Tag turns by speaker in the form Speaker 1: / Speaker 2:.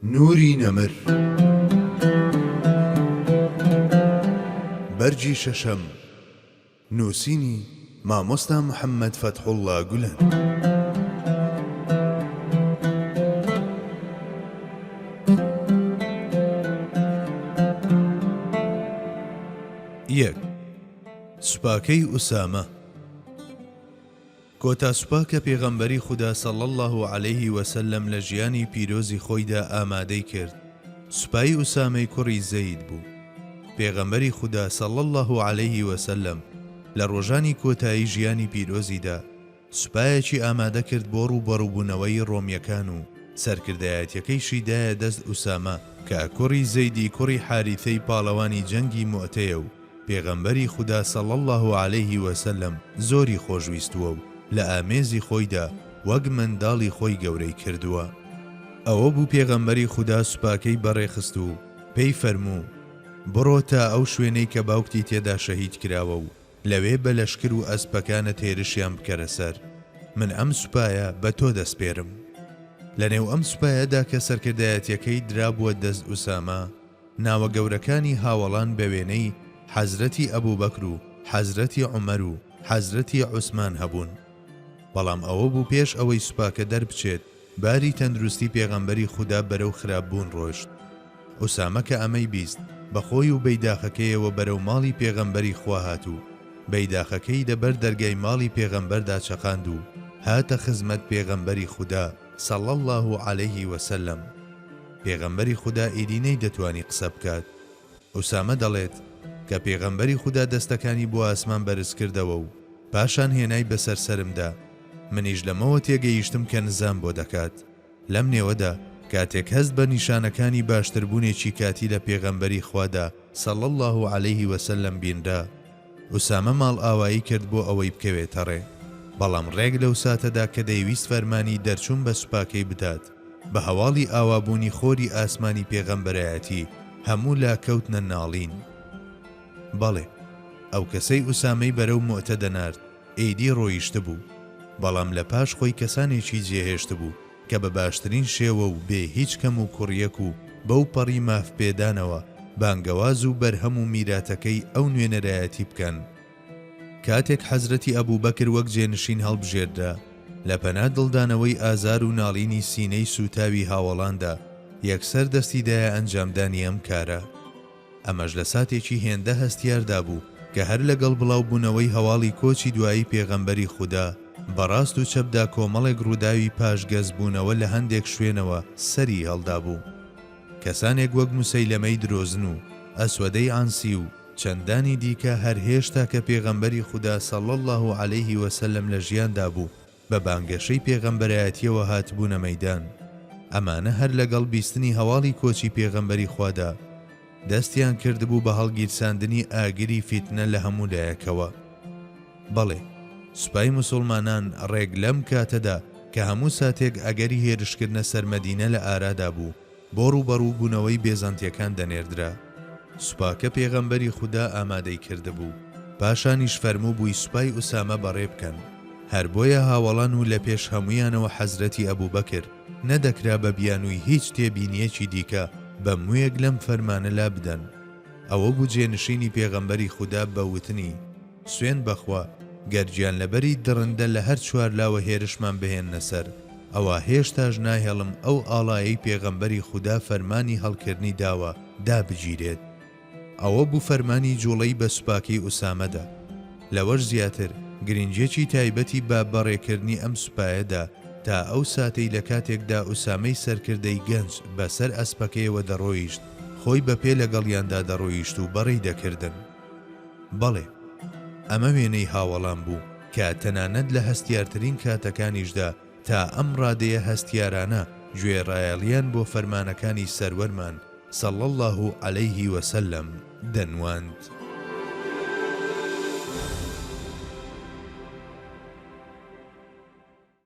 Speaker 1: نوری نەمر بەرگی شەشەم نووسینی، مامۆستا محەمەد فەتحوڵڵا گولەن. یەک، سوپاکەی ئوسامە. کۆتا سوپا کە پێغەمبەری خودا صلی اللە علیە وسلم لە ژیانی پیرۆزی خۆیدا ئامادەی کرد سوپای ئوسامەی کوڕی زەید بوو. پێغەمبەری خودا صلی اللە علیە وسلم لە ڕۆژانی کۆتایی ژیانی پیرۆزیدا سوپایەکی ئامادە کرد بۆ ڕووبەڕووبوونەوەی ڕۆمیەکان و سەرکردایەتیەکەیشی دایە دەست ئوسامە کە کوڕی زەیدی کوڕی حاریثەی پاڵەوانی جەنگی موئتەیە و پێغەمبەری خودا صلی اللە علیه وسلم زۆری خۆشویستووە و لە ئامێزی خۆیدا وەک منداڵی خۆی گەورەی کردووە. ئەوە بوو پێغەمبەری خودا سوپاکەی بەڕێخست و پێی فەرموو، بڕۆ تا ئەو شوێنەی کە باوکتی تێدا شەهید کراوە و لەوێ بە لەشکر و ئەسپەکانت هێرشیان بکەرە سەر، من ئەم سوپایە بە تۆ دەسپێرم. لەنێو ئەم سوپایەدا کە سەرکردایەتیەکەی درابووە دەست ئوسامە، ناوە گەورەکانی هاوەڵان بە وێنەی حەزرەتی ئەبوبەکر و حەزرەتی عومەر و حەزرەتی عوسمان هەبوون. بەڵام ئەوە بوو پێش ئەوەی سوپاکە دەربچێت باری تەندروستی پێغەمبەری خودا بەرەو خراپ بوون ڕۆشت. ئوسامە کە ئەمەی بیست بە خۆی و بەیداخەکەیەوە بەرەو ماڵی پێغەمبەری خوا هات و بەیداخەکەی لە بەر دەرگای ماڵی پێغەمبەردا چەقاند و هاتە خزمەت پێغەمبەری خودا صلی اللە علیه وسلم. پێغەمبەری خودا ئیدی نەیدەتوانی قسە بکات. ئوسامە دەڵێت، کە پێغەمبەری خودا دەستەکانی بۆ ئاسمان بەرز کردەوە و پاشان هێنای بەسەر سەرمدا، منیش لەمەوە تێگەیشتم کە نزام بۆ دەکات. لەم نێوەدا کاتێک هەست بە نیشانەکانی باشتربوونێکی کاتی لە پێغەمبەری خوادا، صلی اللە علیه وسلم، بینرا، ئوسامە ماڵئاوایی کرد بۆ ئەوەی بکەوێتە ڕێ، بەڵام ڕێک لەو ساتەدا کە دەیویست فەرمانی دەرچوون بە سوپاکەی بدات، بە هەواڵی ئاوابوونی خۆری ئاسمانی پێغەمبەرایەتی هەموو لا کەوتنە ناڵین. بەڵێ، ئەو کەسەی ئوسامەی بەرەو موئتە دەنارد، ئیدی ڕۆیشتبوو. بەڵام لە پاش خۆی کەسانێکی جێهێشتبوو کە بە باشترین شێوە و بێ هیچ کەم و کوڕیەک و بەو پەڕی مافپێدانەوە بانگەواز و بەرهەم و میراتەکەی ئەو نوێنەرایەتی بکەن. کاتێک حەزرەتی ئەبوبەکر وەک جێنشین هەڵبژێردرا، لە پەنا دڵدانەوەی ئازار و ناڵینی سینەی سووتاوی هاوەڵاندا، یەکسەر دەستی دایە ئەنجامدانی ئەم کارە. ئەمەش لە ساتێکی هێندە هەستیاردا بوو کە هەر لەگەڵ بڵاوبوونەوەی هەواڵی کۆچی دوایی پێغەمبەری خودا، بە ڕاست و چەپدا کۆمەڵێک ڕووداوی پاشگەزبوونەوە لە هەندێک شوێنەوە سەری هەڵدابوو. کەسانێک وەک موسەیلەمەی درۆزن و ئەسوەدەی عەنسی و چەندانی دیکە هەر هێشتا کە پێغەمبەری خودا صلی اللە علیه و سلم لە ژیاندا بوو بە بانگەشەی پێغەمبەرایەتیەوە هاتبوونە مەیدان ئەمانە هەر لەگەڵ بیستنی هەواڵی کۆچی پێغەمبەری خوادا دەستیان کردبوو بە هەڵگیرساندنی ئاگری فیتنە لە هەموو لایەکەوە. بەڵێ سوپای موسوڵمانان ڕێک لەم کاتەدا کە هەموو ساتێک ئەگەری هێرشکردنە سەر مەدینە لە ئارادا بوو بۆ ڕووبەڕوو بوونەوەی بێزەنتیەکان دەنێردرا سوپاکە پێغەمبەری خودا ئامادەی کردبوو پاشانیش فەرموو بووی سوپای ئوسامە بەڕێ بکەن هەر بۆیە هاوەڵان و لە پێش هەموویانەوە حەزرەتی ئەبوو بەکر نەدەکرا بە بیانووی هیچ تێبینیەکی دیکە بە مووێک لەم فەرمانە لا بدەن ئەوە بوو جێنشینی پێغەمبەری خودا بە وتنی سوێند بەخوا گەر گیانلەبەری دڕندە لە هەر چوار لاوە هێرشمان بهێننە سەر ئەوا هێشتاش ناهێڵم ئەو ئاڵایەی پێغەمبەری خودا فەرمانی هەڵکردنی داوە دابگیرێت ئەوە بوو فەرمانی جوڵەی بە سوپاکەی ئوسامەدا لەوەش زیاتر گرنگیەکی تایبەتی بە بەڕێکردنی ئەم سوپایەدا تا ئەو ساتەی لە کاتێکدا ئوسامەی سەرکردەی گەنج بەسەر ئەسپەکەیەوە دەڕۆیشت خۆی بە پێ لەگەڵیاندا دەڕۆیشت و بەڕێی دەکردن. بەڵێ، ئەمە وێنەی هاوەڵان بوو کە تەنانەت لە هەستیارترین کاتەکانیشدا تا ئەم ڕادەیە هەستیارانە گوێڕایەڵییان بۆ فەرمانەکانی سەروەرمان، صلی اللە علیه و سلم، دەنواند.